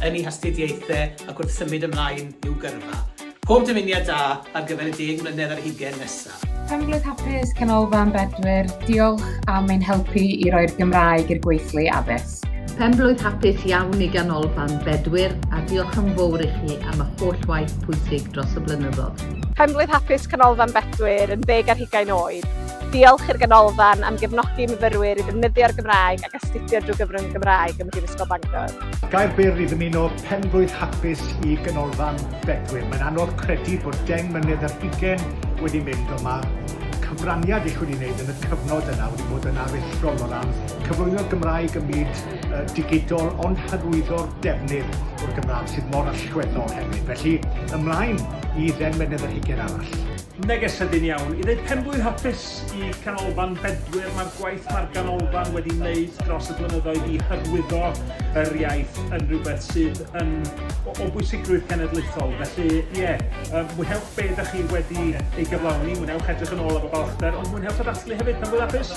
yn ei hastudiaethau ac wrth symud ymlaen i'w gyrfa. Pob dymuniad da ar gyfer y deg mlynedd ar hugain nesaf. Penglwyd Hapus, Canolfan Bedwyr, diolch am ein helpu i roi'r Gymraeg i'r gweithlu addysg. Penblwydd hapus iawn i Ganolfan Bedwyr a diolch yn fawr i chi am y holl waith pwysig dros y blynyddoedd. Penblwydd hapus Canolfan Bedwyr yn ddeg ar hugain oed. Diolch i'r Ganolfan am gefnogi myfyrwyr i ddefnyddio'r Gymraeg ac astudio drwy gyfrwng y Gymraeg ym Mhrifysgol Bangor. Gair byr i ddymuno penblwydd hapus i Ganolfan Bedwyr. Mae'n anodd credu bod deng mlynedd ar hugen wedi mynd ond mae'r cyfraniad eich wedi wneud yn y cyfnod yna wedi bod yn aruthrol o ran cyflwyno'r Gymraeg ym myd uh, digidol ond hyrwyddo'r defnydd o'r Gymraeg sydd mor allweddol hefyd. Felly ymlaen i ddeng mlynedd ar hugen arall. Neges sydyn iawn. I ddeud penblwydd hapus i Canolfan Bedwyr, mae'r gwaith mae'r ganolfan wedi wneud dros y blynyddoedd i hyrwyddo yr iaith yn rhywbeth sydd yn o, o bwysigrwydd cenedlaethol. Felly, ie, yeah, mwynhewch be ydych chi wedi ei gyflawni, mwynhewch edrych yn ôl efo balchder, ond mwynhewch y dathlu hefyd, penblwydd hapus!